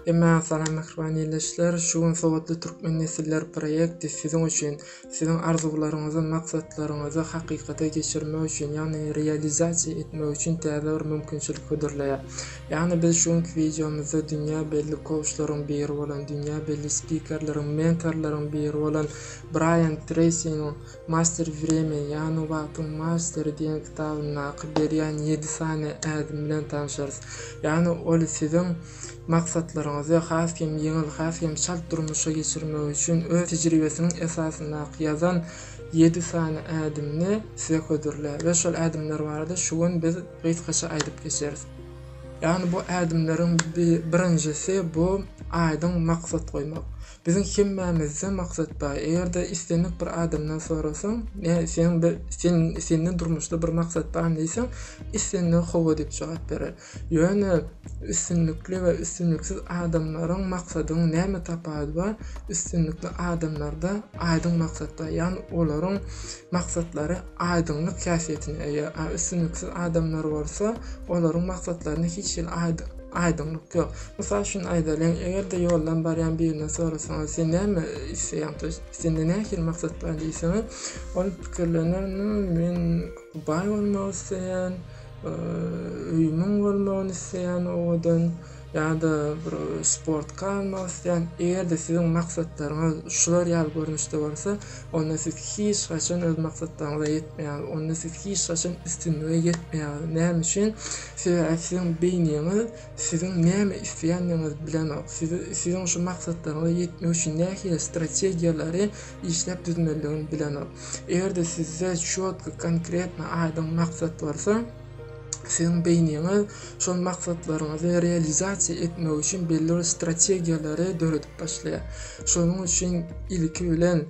Emma salam mähriban ildeşler, şu gün Sowatly türkmen nesiller proýekti siziň üçin, siziň arzuwlaryňyzy, maksatlaryňyzy hakykata geçirmek üçin, ýagny realizasiýa etmek üçin täze bir mümkinçilik hödürleýär. Ýagny biz şu günki wideomyzda dünýä belli kouçlaryň biri bolan, dünýä belli spikerleriň, mentorlaryň biri bolan Braýan Treýsiniň, Master Vremeni, ýagny Wagtyň Masteri diýen kitabyndaky berýän ýedi sany ädim bilen tanşarys. Ýagny ol siziň maksatlaryňyzy has hem ýeňil, has hem çalt durmuşa geçirmek üçin öz tejribesiniň esasyndaky ýazan ýedi sany ädimini size hödürlär we şol ädimler barada şu gün biz gysgaça aýdyp geçeris. Ýagny bu ädimleriň birinjisi bu aýdyň maksat goýmak. Biziň hemmämizde maksat bar. Eger-de islendik bir adamdan sorasaň, Ä, seň bir, sen, sende durmuşda bir maksat barmy diýseň, islendigi hawa diýip jogap berer. Ýöne üstünlikli we üstünliksiz adamlaryň maksadyň näme tapawudy bar? Üstünlikli adamlarda aýdyň maksat bar, ýagny olaryň maksatlary aýdyňlyk häsiýetine eýe. A üstünliksiz adamlar bolsa, olaryň maksatlaryny hiç hili aýdyň. Aýdyňlyk ýok. Mysal üçin aýdalyň, eger-de ýoldan barýan birinden sorasaňyz, sen näme isleýäň, to ýest sende nähili maksat bar diýseňiz, ol pikirlener, nu, men baý bolmak isleýän, öýümiň bolmagyny isleýän owadan ýa-da bir sportka almak isleýän. Eger-de siziň maksatlaryňyz şular ýaly görnüşde bolsa, onda siz hiç haçan öz maksatlaryňyza ýetmeýäňiz, onda siz hiç haçan üstünlige ýetmeýäňiz. Näme üçin? Sebäbi siziň beýniňiz siziň näme isleýändigiňizi bilenok. Siz siziň şu maksatlaryňyza ýetmek üçin nähili strategiýalary işläp düzmelidigini bilenok. Eger-de sizde çýotky, konkretno, aýdyň maksat bolsa, Siziň beýniňiz şol maksatlaryňyzy realizasiýa etmek üçin belli bir strategiýalary döredip başlaýar. Şonuň üçin ilki bilen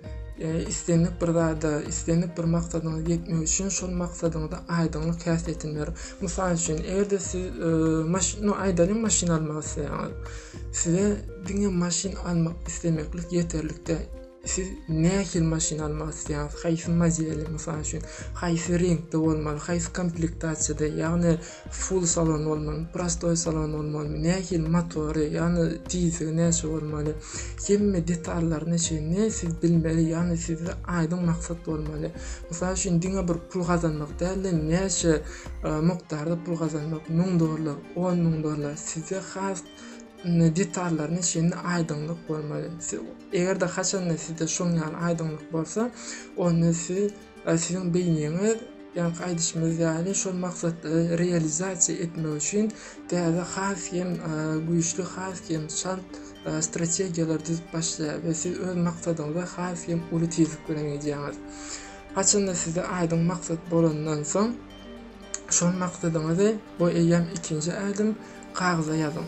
islendik bir zada, islendik bir maksadyňyza ýetmek üçin şol maksadyňyza aýdyňlyk häsiýetini berin. Mysal üçin, eger-de siz maşyn, no aýdalyň maşyn almak isleýäňiz. Size diňe maşyn almak islemeklik ýeterlik däl. Siz nähili maşyn almak isleýäňiz? Haýsy modeli, mysal üçin, haýsy reňkde bolmaly, haýsy komplektasiýada, ýagny full salon bolmalymy, prostoý salon bolmalymy, nähili motory, ýagny tizligi näçe bolmaly, hemme detallaryna çenli siz bilmeli, ýagny sizde aýdyň maksat bolmaly. Mysal üçin, diňe bir pul gazanmak däl-de, näçe e, mukdarda pul gazanmak, müň dollar, on müň dollar, sizde has detallaryna çenli aýdyňlyk bolmaly. Eger-de haçanda sizde şoň ýaly aýdyňlyk bolsa, onda siz e, siziň beýniňiz ýaňky aýdyşymyz ýaly şol maksatlary realizasiýa etmek üçin täze has hem e, güýçli, has hem çalt e, strategiýalar düzüp başlaýar we siz öz maksadyňyza has hem uly tizlik bilen gidýäňiz. Haçanda sizde aýdyň maksat bolandan soň, Şol maksadyňyzy bu eýýäm ikinji ädim kagyza ýazyň.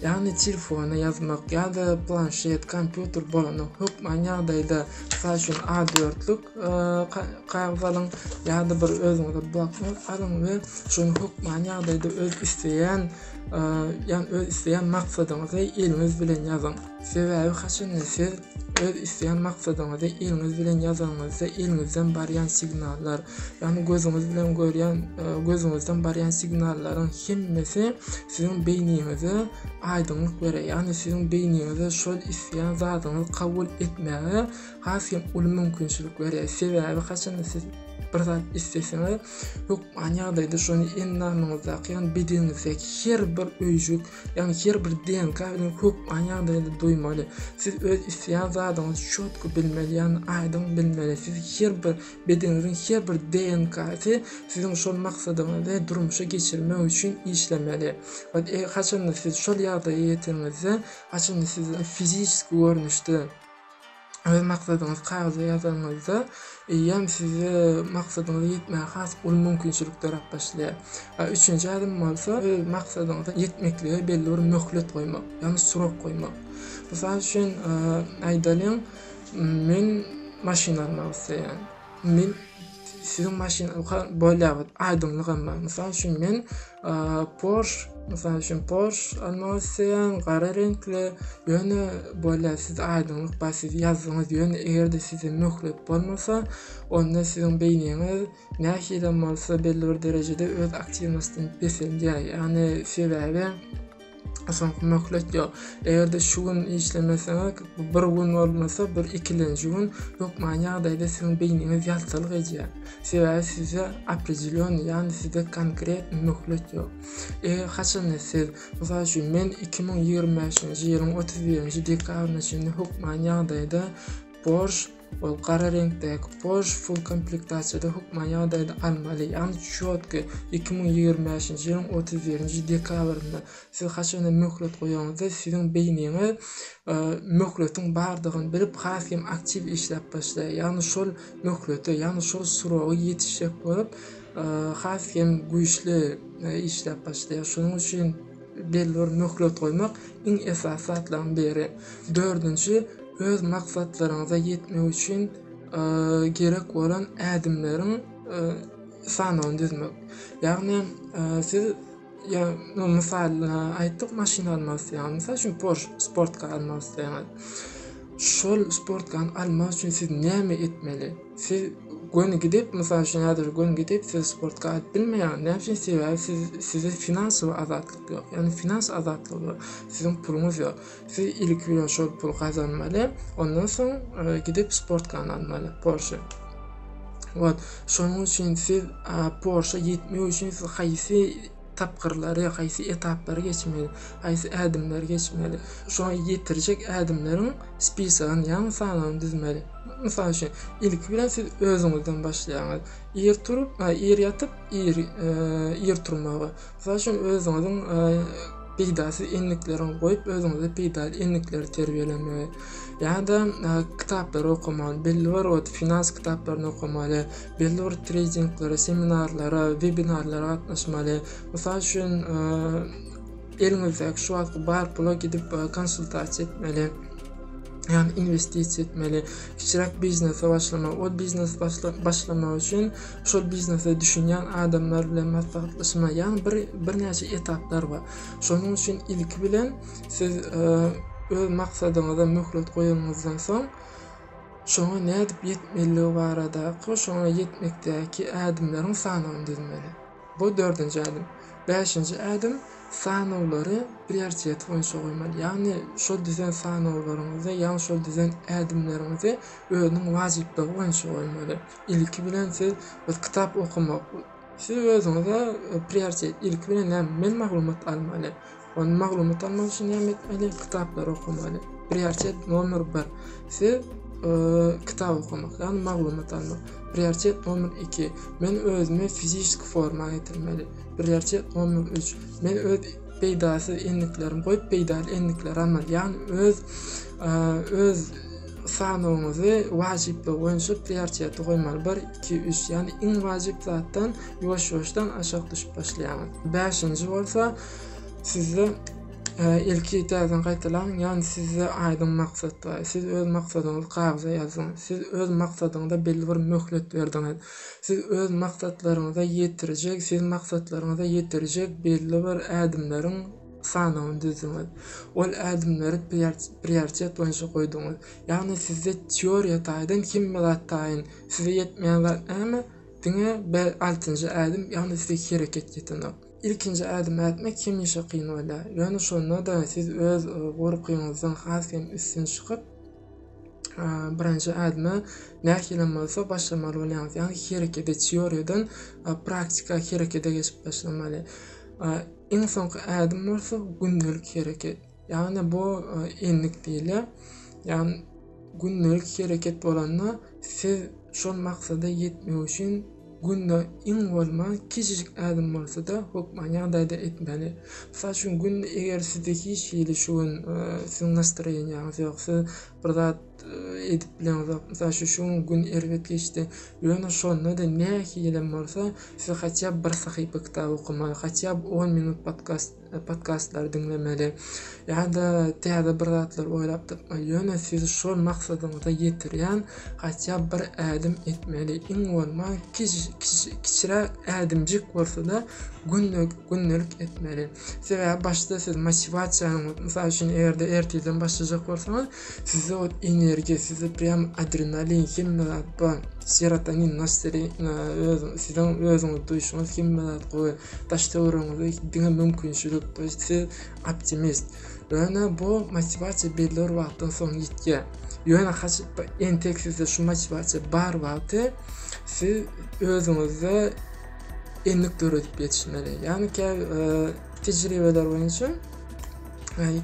Ýagny telefona ýazmak ýa-da planşet, kompýuter bolany hökman ýagdaýda mysal üçin A4-lük kagyz alyň ýa-da bir özüňize bloknot alyň we şony hökman ýagdaýda öz isleýän ýagny öz isleýän maksadyňyzy eliňiz bilen ýazyň. Sebäbi haçanda siz Öz isleýän maksadyňyzy eliňiz bilen ýazanyňyzda eliňizden barýan signallar, ýagny gözüňiz bilen görýän, e, gözüňizden barýan signallaryň hemmesi siziň beýniňize aýdyňlyk berer. Ýagny siziň beýniňize şol isleýän zadyňyzy kabul etmäge has hem uly mümkinçilik berer. Sebäbi haçanda siz bir zat isleseňiz, hökman ýagdaýda şony endamyňyzdaky, ýagny bedeniňizdäki her bir öýjük, Ýagny her bir DNK bilen hupbaň ýagdaýda duýmaly. Siz öz isleýän zadyňyzy çotky bilmeli, ýagny aýdyň bilmeli. Siz her bir bedeniňiziň her bir DNK-sy siziň şol maksadyňyzy durmuşa geçirmek üçin işlemeli. Haçanda siz şol ýagdaýa ýeteniňizde, haçanda siz fiziki görnüşde, Öz maksadyňyzy kagyza ýazanyňyzda, eýýäm size maksadyňyza ýetmäge has uly mümkinçilik döräp başlaýar. A üçünji ädim bolsa, öz maksadyňyza ýetmeklige belli bir möhlet goýmak, ýagny surok goýmak. Mysal üçin, aýdalyň, men maşyn almak isleýän. Men Siziň maşynyňyzka bolýarmy? Aýdyňlygam bar. Mysal üçin men Porsche, mysal üçin Porsche almak isleýän, gara reňkli. Ýöne bolýar, siz aýdyňlyk bar, siz ýazdyňyz. Ýöne eger-de size möhlet bolmasa, onda siziň beýniňiz nähilem bolsa belli bir derejede öz aktiwnostyny peselýär. Ýagny sebäbi Soňky möhlet ýok. Eger-de şu gün işlemeseňiz, bu bir gün bolmasa, bir ikilenji gün hökmany ýagdaýda siziň beýniňiz ýaltalyk edýär. Sebäbi sizde opredelýony, ýagny sizde konkretny möhlet ýok. Eger haçanda siz, mysal üçin, men iki müň ýigrimi bäşinji ýylyň otuz birinji dekabryna çenli hökmany ýagdaýda borç Ol gara reňkdäki Porsche Full komplektasiýada hökman ýagdaýda almaly, ýagny çýotky iki müň ýigrimi bäşinji ýylyň otuz birinji dekabrynda. Siz haçanda möhlet goýaňyzda, siziň beýniňiz möhletiň bardygyny bilip, has hem aktiw işläp başlaýar. Ýagny şol möhlete, ýagny şol sroga ýetişjek bolup, has hem güýçli işläp başlaýar. Şonuň üçin. Belbir möhlet goýmak iň esasy zatlaryň biri. Dördünji, öz maksatlaryňyza ýetmek üçin gerek bolan ädimleriň sanawyny düzmek. Ýagny siz mysal aýtdyk maşyn almak isleýäňiz. Mysal üçin Porsche sportkan almak isleýäňiz. Şol sportkany almak üçin siz näme etmeli? Siz göni gidip, mysal üçin, häzir göni gidip, siz sport gaýdyp bilmeýäňiz. Näme üçin? Sebäbi siz sizde finansowy azatlyk ýok. Ýagny finans azatlygy ýok. Siziň puluňyz ýok. Siz ilki bilen şol puly gazanmaly, ondan soň gidip sportkany almaly, Porsche. Wah, şonuň üçin siz Porsche ýetmek üçin siz haýsy tapgyrlary, haýsy etaplary geçmeli, haýsy ädimleri geçmeli, şoňa ýetirjek ädimleriň spisagyny, ýagny sanawyny düzmeli. Mysal üçin, ilki bilen siz özüňizden başlaýaňyz. Ir turup, ir ýatyp, ir, e, ir turmagy. Mysal üçin, özüňiziň e, peýdasyz endiklerini goýup, özüňize peýdaly endikleri terbiýelemegi. Ýa-da e, kitaplary okamaly, belli bir wagt finans kitaplaryny okamaly, belli bir treýdinglere, seminarlara, webinarlara gatnaşmaly. Mysal üçin, eliňizdäki şu wagtky bar pula gidip konsultasiýa etmeli. Ýagny investisiýa etmeli, kiçiräk biznese başlamaly. Ol biznes başlamak üçin şol biznese düşünýän adamlar bilen maslahatlaşmaly. Ýagny bir birnäçe etaplar bar. Şonuň üçin ilki bilen siz öz maksadyňyza möhlet goýanyňyzdan soň, Şoňa nädip ýetmelidigi baradaky şoňa ýetmekdäki ädimleriň sanawyny düzmeli. Bu dördünji ädim. Bäşinji ädim, sanawlary prioritet boýunça goýmaly. Ýagny şol düzen sanawlaryňyzy, ýagny şol düzen ädimleriňizi özüniň wajyplygy boýunça goýmaly. Ilki bilen siz biz kitap okamak, Siz özüňize prioritet, ilki bilen näme, men maglumat almaly. Ony maglumat almak üçin näme etmeli? Kitaplary okamaly. Prioritet nomer 1. Siz kitap okamak, ýagny maglumat almak. Prioritet nomer 2. Men özümi fiziki forma getirmeli. Prioritet nomer 3. Men öz peýdasyz endiklerimi goýup, peýdaly endikleri almaly. Ýagny öz öz Sanawyňyzy wajyplygy boýunça priorteti goýmaly. Bir, iki, üç, ýagny iň wajyp zatdan ýuwaş-ýuwaşdan aşak düşüp başlaýaňyz. Bäşinji bolsa, sizde ilki täzeden gaýtalaň, ýagny sizde aýdyň maksat bar. Siz öz maksadyňyzy kagyza ýazyň. Siz öz maksadyňyza belli bir möhlet berdiňiz. Siz öz maksatlaryňyza ýetirjek, siz maksatlaryňyza ýetirjek belli bir ädimleriň sanawyny düzdüňiz. Ol ädimleri prioritet boýunça goýduňyz. Ýagny sizde teoriýa taýdan hemme zat taýyn. Size ýetmeýän zat näme? Diňe bel altynjy ädim, ýagny size hereket ýetenok. Ilkinji ädimi ätmek hemişe kyn bolýar. Ýöne şonda-da siz öz gorkyňyzdan has hem üstün çykyp, birinji ädime nähilem bolsa başlamaly bolýaňyz. Ýagny herekete, teoriýadan praktika, herekete geçip başlamaly. Iň soňky ädim bolsa gündelik hereket. Ýagny bu e, endik diýilýär. Ýagny gündelik hereket bolanda siz şol maksada ýetmek üçin günde iň bolman kiçijik ädim bolsa-da hökman ýagdaýda etmeli. Mysal üçin günde eger sizde hiç hili şu gün e, siziň nastroýeniýaňyz ýok, siz bir zat e, edip bileňizok. Mysal şu şu gün erbet geçdi. Ýöne şonda-da nähilem bolsa siz hatya bir sahypa kitap okamaly, hatya 10 minut podkast e, podkastlar diňlemeli. Ýa-da täze bir zatlar oýlap tapmaly. Ýöne siz şol maksadyňyza ýetirýän hatya bir ädim etmeli. Iň bolman kiçiräk ädimjik bolsa-da gündelik etmeli. Sebäbi başda siz motiwasiýanyň, mysal üçin, eger-de ertirden başlajak bolsaňyz, sizde ot energiýa, sizde prýam adrenalin, hemme zat bar. Serotonin, nastroý, öz siziň özüňizi duýuşyňyz hemme zat gowy. Daş töweregiňizde diňe mümkinçilik, to ýest siz optimist. Ýöne bu motiwasiýa belli bir wagtdan soň ýitýär. Ýöne haç entek sizde şu motiwasiýa bar wagty siz özüňizde endik döredip ýetişmeli. Ýagny käbir tejribeler boýunça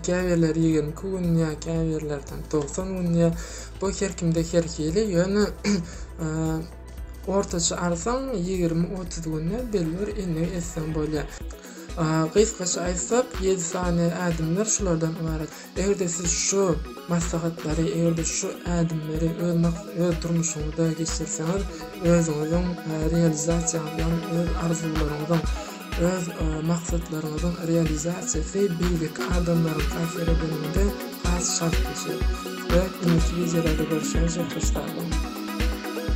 käbirler 22 gün ýa käbirlerden 90 gün ýa bu her kimde her hili ýöne ortaça arsaň 20-30 günde belli bir endik etseň bolýar. Gysgaça aýtsak 7 sany ädimler şulardan ybarat. Eger-de siz şu maslahatlary, eger-de şu ädimleri öz maksat, öz durmuşyňyzda geçirseňiz, özüňiziň realizasiýaňyzyň, öz arzuwlaryňyzyň, öz maksatlaryňyzyň realizasiýasy beýleki adamlaryň täsir edeniňde has şatlaşýar we indiki wideolarda görüşýänçä hoşsag boluň!